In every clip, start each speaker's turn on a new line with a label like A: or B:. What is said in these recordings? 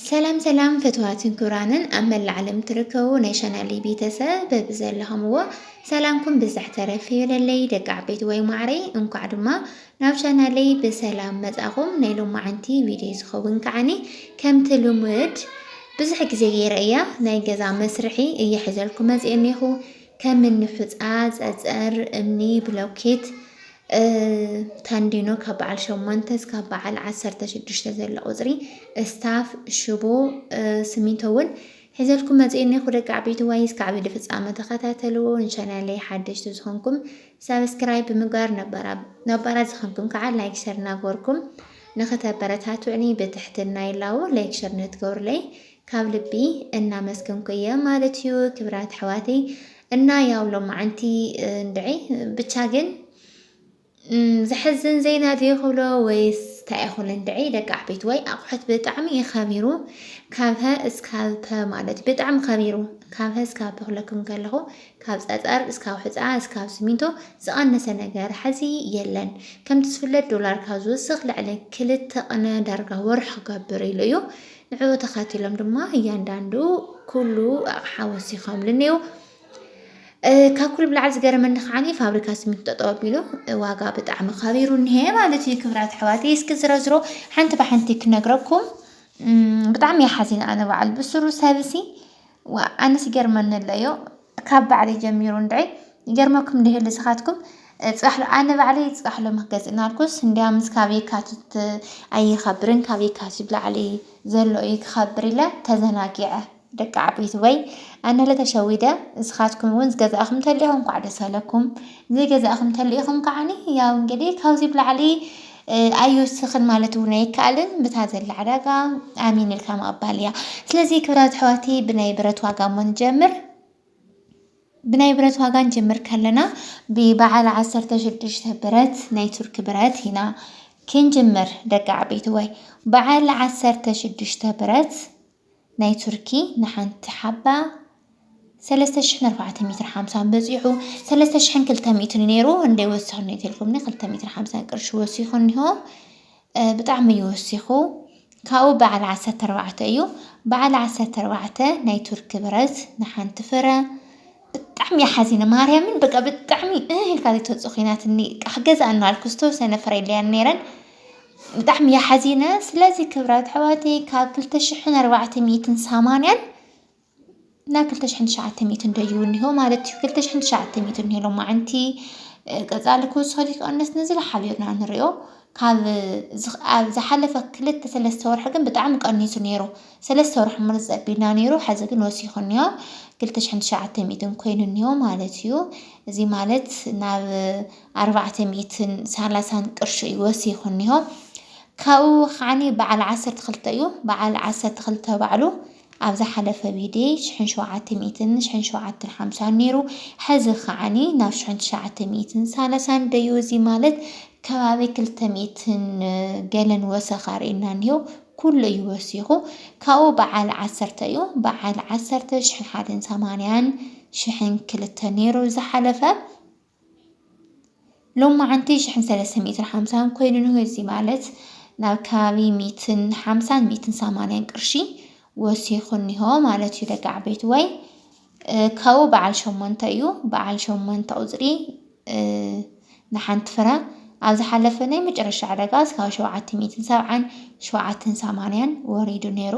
A: ሰላም ሰላም ፈትዋትን ክብራንን ኣብ መላእ ዓለም ትርከቡ ናይ ቻናለይ ቤተሰብ በብዘለኹምዎ ሰላምኩም ብዛሕ ተረፍ ይበለለይ ደቂ ዓበይቲ ወይ ማዕረይ እንኳዕ ድማ ናብ ቻናለይ ብሰላም መጻኹም ናይ ሎማዓንቲ ቪድዮ ዝኸውን ከዓኒ ከምቲ ልሙድ ብዙሕ ግዜ ገይረ እያ ናይ ገዛ መስርሒ እየ ሕዘልኩ መፅእ እኒኹ ከም እኒ ሑፃ፣ ፀፀር፣ እምኒ፣ ብሎኬት፣ ተንዲኖ ካብ በዓል ሸሞንተ እስካብ በዓል ዓሰርተ ሽዱሽተ ዘሎ ቁፅሪ፣ እስታፍ፣ ሽቦ፣ ስሚንቶ እውን ሒዘልኩም መፅኡ እኒኹ ደቂ ዓበይቲ ዋይ እስከ ዓብዪ ፍፃመ ተኸታተልዎ። ንቻናለይ ሓደሽቲ ዝኾንኩም ሳብስክራይብ ብምግባር ነባራት ዝኾንኩም ከዓ ላይክ ሸር እናገበርኩም ንኸተበረታትዑኒ ብትሕትና ይላዎ። ላይክ ሸር ንትገብሩለይ ካብ ልቢ እናመስገንኩ እየ ማለት እዩ ክብራት ኣሕዋተይ እና ያው ሎማዓንቲ እንድዒ ብቻ ግን ዘሕዝን ዜና ድዩ ክብሎ ወይስ እንታይ ይኹን እንድዒ ደቂ ዓበይቲ ወይ ኣቑሑት ብጣዕሚ እዩ ከቢሩ ካብሀ እስካብ ፐ ማለት ብጣዕሚ ከቢሩ ካብሀ እስካብ ፐ ክብለኩም ከለኹ ካብ ፀፀር እስካብ ሕፃ እስካብ ስሚንቶ ዝቐነሰ ነገር ሐዚ የለን። ከምቲ ዝፍለጥ ዶላር ካብ ዝውስኽ ልዕሊ ክልተ ቅነ ዳርጋ ወርሒ ክገብር ኢሉ እዩ። ንዕኡ ተኸቲሎም ድማ እያንዳንዱ ኩሉ ኣቕሓ ወሲኾምሉ እኔው። ካብ ኩሉ ብላዕሊ ዝገረመኒ ከዓኒ ፋብሪካ ስሚንቶ ጠጠው ኣቢሉ ዋጋ ብጣዕሚ ከቢሩ እኒሀ ማለት እዩ። ክብራት ኣሕዋት እስኪ ዝረዝሮ ሓንቲ ብሓንቲ ክነግረኩም ብጣዕሚ እየ ሓዚነ ኣነ በዓል ብስሩ ሰብሲ ዋእ ኣነስ ይገርመኒ ኣሎ እዮ ካብ ባዕለይ ጀሚሩ እንድዒ ይገርመኩም እንዲህ ይህሉ ስኻትኩም ፅባሕሎ ኣነ ባዕለይ ፅባሕሎ መክገዝ እናልኩስ እንዲያምስ ካብ የካቲት ኣይኸብርን ካብ የካቲት ብላዕሊ ዘሎ እዩ ክኸብር ኢለ ተዘናጊዐ ደቂ ዓበይቲ ወይ ኣነለ ተሸዊደ እስኻትኩም እውን ዝገዛእኹም ተሊኹም ኳዕ ደስ ኣለኩም ዘይገዛእኹም ተሊኹም ከዓኒ ያው እንግዲህ ካብዚ ብላዕሊ ኣይውስኽን ማለት እውን ኣይከኣልን ብታ ዘላ ዕዳጋ ኣሚን ኢልካ ምቕባል እያ። ስለዚ ክብራት ኣሕዋተይ ብናይ ብረት ዋጋ እሞ ንጀምር። ብናይ ብረት ዋጋ ንጀምር ከለና ብበዓል ዓሰርተ ሽዱሽተ ብረት ናይ ቱርኪ ብረት ኢና ክንጅምር ደቂ ዓበይትወይ በዓል ዓሰርተ ሽዱሽተ ብረት ናይ ቱርኪ ንሓንቲ ሓባ ሰለስተ ሽሕን ኣርባዕተ ሚትር ሓምሳን በፂሑ ሰለስተ ሽሕን ክልተ ሚእትን ነይሩ እንደ ወሲኹ እኒኦ ተልኩምኒ ክልተ ሚትር ሓምሳን ቅርሺ ወሲኹ እኒሆ ብጣዕሚ እዩ ወሲኹ ካብኡ በዓል ዓሰርተ ኣርባዕተ እዩ በዓል ዓሰርተ ኣርባዕተ ናይ ቱርኪ ብረት ንሓንቲ ፍረ ብጣዕሚ እየ ሓዚነ ማርያምን በቃ ብጣዕሚ እህ ኢልካ ዘይትወፅእ ኮይናትኒ ክገዝኣ እናበልኩ ዝተወሰነ ፍረ ኢለያን ነይረን ብጣዕሚ እየ ሓዚነ ስለዚ ክብራት ኣሕዋተይ ካብ ክልተ ሽሕን ኣርባዕተ ሚእትን ሰማንያን ናብ ክልተ ሽሕን ትሽዓተ ሚእትን ደዩ እኒሆ ማለት እዩ ክልተ ሽሕን ትሽዓተ ሚእትን እኒሆ ሎማዓንቲ ቀፃሊ ክውስኸል ይቀንስ ንዝለዓለ ኢና ንሪኦ ካብ ዝኽ- ኣብ ዝሓለፈ ክልተ ሰለስተ ወርሒ ግን ብጣዕሚ ቀኒሱ ነይሩ ሰለስተ ወርሒ ማለት ዘቢልና ነይሩ ሐዚ ግን ወሲኹ እኒኦ ክልተ ሽሕን ትሽዓተ ሚእትን ኮይኑ እኒኦ ማለት እዩ እዚ ማለት ናብ ኣርባዕተ ሚእትን ሳላሳን ቅርሺ እዩ ወሲኹ እኒሆ። ካብኡ ከዓኒ በዓል ዓሰርተ ክልተ እዩ። በዓል ዓሰርተ ክልተ ባዕሉ ኣብ ዝሓለፈ ቪድዮ ሽሕን ሸውዓተ ሚእትን ሽሕን ሸውዓተን ሓምሳን ነይሩ። ሕዚ ከዓኒ ናብ ሽሕን ትሽዓተ ሚእትን ሳላሳን ደዩ እዚ ማለት ከባቢ ክልተ ሚእትን ገለን ወሰኻ ርኢና እኒሆ። ኩሉ እዩ ወሲኹ። ካብኡ በዓል ዓሰርተ እዩ። በዓል ዓሰርተ ሽሕን ሓደን ሰማንያን ሽሕን ክልተ ነይሩ ዝሓለፈ ሎማዓንቲ ሽሕን ሰለስተ ሚእትን ሓምሳን ኮይኑ እንሆ እዚ ማለት ናብ ከባቢ ሚእትን ሓምሳን ሚእትን ሰማንያን ቅርሺ ወሲኹ እኒሆ ማለት እዩ ደቂ ዓበይቲ ወይ ካብኡ በዓል ሸሞንተ እዩ በዓል ሸሞንተ ቁፅሪ ንሓንቲ ፍረ ኣብ ዝሓለፈ ናይ መጨረሻ ዕዳጋ እስካብ ሸውዓተ ሚእትን ሰብዓን ሸውዓተን ሰማንያን ወሪዱ ነይሩ።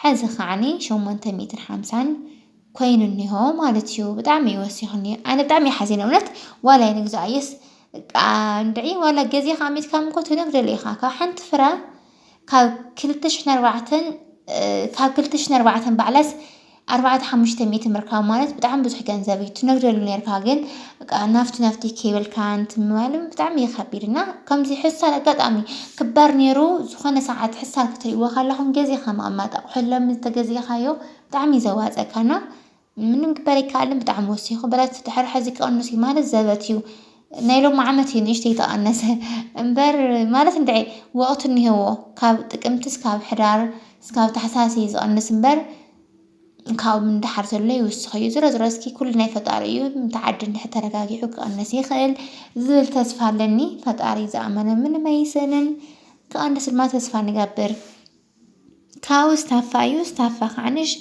A: ሐዚ ከዓኒ ሸሞንተ ሚእትን ሓምሳን ኮይኑ እኒሆ ማለት እዩ ብጣዕሚ እዩ ወሲኹኒ ኣነ ብጣዕሚ እየ ሓዚነ እውነት ዋላ ይንግዛኣየስ እንድዒ ዋላ ገዜ ከዓ ሚትካም እኮ ትነግደሉ ኢኻ ካብ ሓንቲ ፍረ ካብ ክልተ ሽሕን ኣርባዕተን ካብ ክልተ ሽሕን ኣርባዕተን ባዕላስ ኣርባዕተ ሓሙሽተ ሚእቲ ምርካብ ማለት ብጣዕሚ ብዙሕ ገንዘብ እዩ ትነግደሉ ነርካ ግን በቃ ናፍቲ ናፍቲ ከይበልካ እንትን ምባል ብጣዕሚ እዩ ከቢድ እና ከምዚ ሕሳር ኣጋጣሚ ክባር ነይሩ ዝኾነ ሰዓት ሕሳር ክትሪእዎ ከለኹም ገዚእኻ ምቕማጥ ኣቑሑ ሎሚ ዝተገዚእኻዮ ብጣዕሚ እዩ ዘዋፀካ እና ምንም ክበር ኣይከኣልን ብጣዕሚ ወሲኹ ብረት ድሕሪ ሕዚ ክቕንስ እዩ ማለት ዘበት እዩ ናይ ሎሚ ዓመት እዩ ንእሽተይ ተቐነሰ እምበር ማለት እንድዒ ወቕቲ እኒሀዎ ካብ ጥቅምቲ እስካብ ሕዳር እስካብ ታሕሳስ እዩ ዝቕንስ እምበር ካብኡ ንደሓር ዘሎ ይውስኽ እዩ። ዝሮ ዝሮ እስኪ ኩሉ ናይ ፈጣሪ እዩ እቲ ዓዲ እንድሕር ተረጋጊዑ ክቕንስ ይኽእል ዝብል ተስፋ ኣለኒ። ፈጣሪ ዝኣመነ ምንም ኣይሰንን ክቕንስ ድማ ተስፋ ንገብር። ካብኡ ስታፋ እዩ ስታፋ ከዓንሽ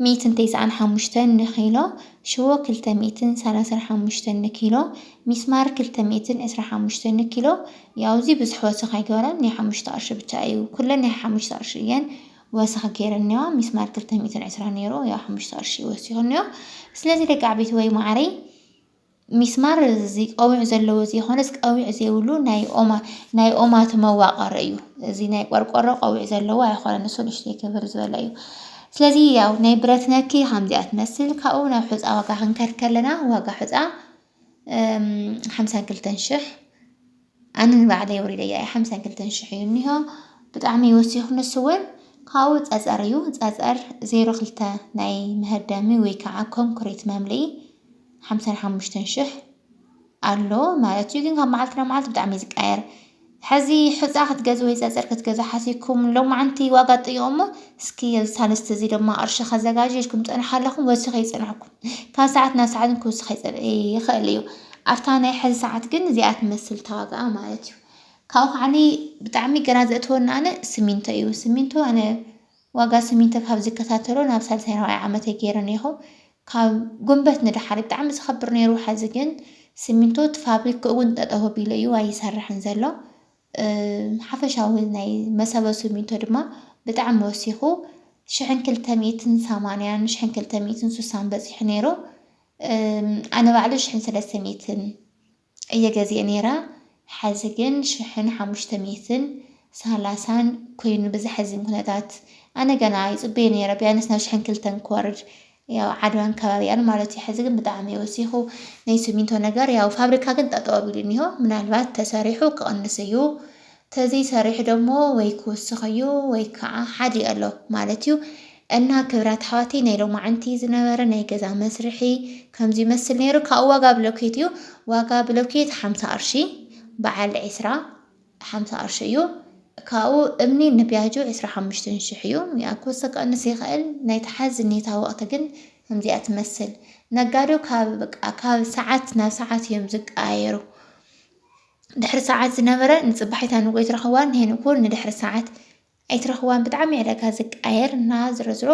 A: ሚእትን ተስዓን ሓሙሽተን ንኪሎ ሽቦ ክልተ ሚእትን ሰላሳን ሓሙሽተን ንኪሎ ሚስማር ክልተ ሚእትን ዕስራ ሓሙሽተን ንኪሎ ያው እዚ ብዙሕ ወሰኽ ኣይገበረን ናይ ሓሙሽተ ቅርሺ ብቻ እዩ ኩለን ናይ ሓሙሽተ ቅርሺ እየን። ወሰኽ ጌረኒዮ ሚስማር ክልተ ሚእትን ዕስራን ኔሩ ያው ሓሙሽተ ቅርሺ ወሲኹኒዮ ስለዚ ደቂ ዓበይቲ ወይ ማዓረይ ሚስማር እዚ ቀዊዑ ዘለዎ ዘይኮነስ ቀዊዕ ዘይብሉ ናይ ኦማ ናይ ኦማት መዋቀሪ እዩ እዚ ናይ ቆርቆሮ ቀዊዕ ዘለዎ ኣይኮነን ንሱ ንእሽተይ ክብር ዝበለ እዩ ስለዚ ያው ናይ ብረት ነኪ ከምዚኣ ትመስል ካብኡ ናብ ሑፃ ዋጋ ክንከድ ከለና ዋጋ ሑፃ ሓምሳን ክልተን ሽሕ ኣነ ንባዕለይ ወሪደያ እየ ሓምሳን ክልተን ሽሕ እዩ እኒሆ ብጣዕሚ ወሲኹ ንሱ እውን ካብኡ ፀፀር እዩ ፀፀር ዜሮ ክልተ ናይ መህደሚ ወይ ከዓ ኮንክሪት መምልኢ ሓምሳን ሓሙሽተን ሽሕ ኣሎ ማለት እዩ ግን ካብ መዓልቲ ናብ መዓልቲ ብጣዕሚ እዩ ዝቀየር ሐዚ ሑፃ ክትገዙ ወይ ፀፅር ክትገዙ ሓሲብኩም ሎማዓንቲ ዋጋ ጥይቁ እሞ እስኪ ኣብዚ ሳልስቲ እዙይ ድማ ቅርሺ ከዘጋጅ ኢልኩም ፀንሑ ኣለኹም ወሲኹ ይፅንሕኩም ካብ ሰዓት ናብ ሰዓትን ክውስኽ ይፅብ ይኽእል እዩ ኣብታ ናይ ሐዚ ሰዓት ግን እዚኣ ትመስል ተዋግኣ ማለት እዩ ካብኡ ከዓኒ ብጣዕሚ ገና ዘእትወና ኣነ ስሚንቶ እዩ ስሚንቶ ኣነ ዋጋ ስሚንቶ ካብ ዝከታተሎ ናብ ሳልሳይ ራብዓይ ዓመተይ ገይረ እኔኹ ካብ ጉንበት ንደሓር እዩ ብጣዕሚ ዝኸብር ነይሩ ሐዚ ግን ስሚንቶ እቲ ፋብሪክኡ እውን ጠጠው ኣቢሉ እዩ ኣይሰርሕን ዘሎ ሓፈሻዊ ናይ መሰቦ ስሚንቶ ድማ ብጣዕሚ ወሲኹ ሽሕን ክልተ ሚእትን ሰማንያን ሽሕን ክልተ ሚእትን ስሳን በፂሑ ነይሩ ኣነ ባዕሉ ሽሕን ሰለስተ ሚእትን እየ ገዚኤ ነይረ ሐዚ ግን ሽሕን ሓሙሽተ ሚእትን ሳላሳን ኮይኑ ብዘሐዝን ኩነታት ኣነ ገና ይፅበዮ ነይረ ቢያንስ ናብ ሽሕን ክልተን ክወርድ ያው ዓድዋን ከባቢኣን ማለት እዩ ሐዚ ግን ብጣዕሚ እዩ ወሲኹ ናይ ስሚንቶ ነገር ያው ፋብሪካ ግን ጠጠው ኣቢሉ እኒሆ ምናልባት ተሰሪሑ ክቕንስ እዩ ተዘይ ሰሪሑ ደሞ ወይ ክውስኽ እዩ ወይ ክዓ ሓዲኡ ኣሎ ማለት እዩ እና ክብራት ኣሕዋተይ ናይ ሎማዕንቲ ዝነበረ ናይ ገዛ መስርሒ ከምዚ ይመስል ነይሩ ካብኡ ዋጋ ብሎኬት እዩ ዋጋ ብሎኬት ሓምሳ ቅርሺ በዓል ዒስራ ሓምሳ ቅርሺ እዩ ካብኡ እምኒ ንቢያጆ ዕስራ ሓሙሽተን ሽሕ እዩ ያው ክወስኽ ክቕንስ ይኽእል ናይ ተሓዝ ኔታ ወቕቲ ግን ከምዚኣ ትመስል ነጋዶ ካብ በቃ ካብ ሰዓት ናብ ሰዓት እዮም ዝቀያየሩ ድሕሪ ሰዓት ዝነበረ ንጽባሒታ ንግሆ ይትረኽዋ ንሄኑ ኩን ንድሕሪ ሰዓት ኣይትረኽዋን ብጣዕሚ ዕለካ ዝቃየር እና ዝረዝሮ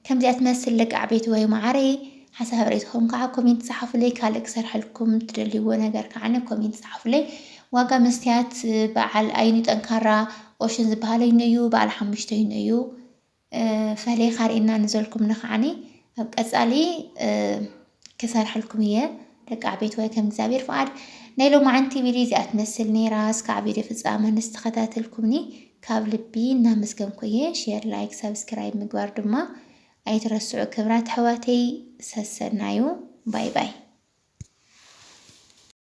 A: ከምዚኣ ትመስል ደቂ ዓበይቲ ወይ ማዓረይ ሓሳብ ርእይትኹም ከዓ ኮሜንት ጸሓፉለይ ካልእ ክሰርሐልኩም ትደልይዎ ነገር ከዓ ኮሜንት ጸሓፉለይ ዋጋ መስትያት በዓል ኣይኑ ጠንካራ ኦሽን ዝበሃለይኑ እዩ በዓል ሓሙሽተይኑ እዩ ፈሊኻ ርኢና ንዘልኩም ንኸዓኒ ኣብ ቀጻሊ ክሰርሐልኩም እየ ደቂ ዓቤት ወይ ከም እግዚኣብሔር ፍቃድ ናይ ሎማዓንቲ ቪድዮ እዚኣ ትመስል ነይራ እስካዕ ቪድዮ ፍጻመ ንስተኸታተልኩምኒ ካብ ልቢ እናመስገንኩ እየ ሼር ላይክ ሰብስክራይብ ምግባር ድማ ኣይትረስዑ ክብራት ኣሕዋተይ ሰሰናዩ ባይ ባይ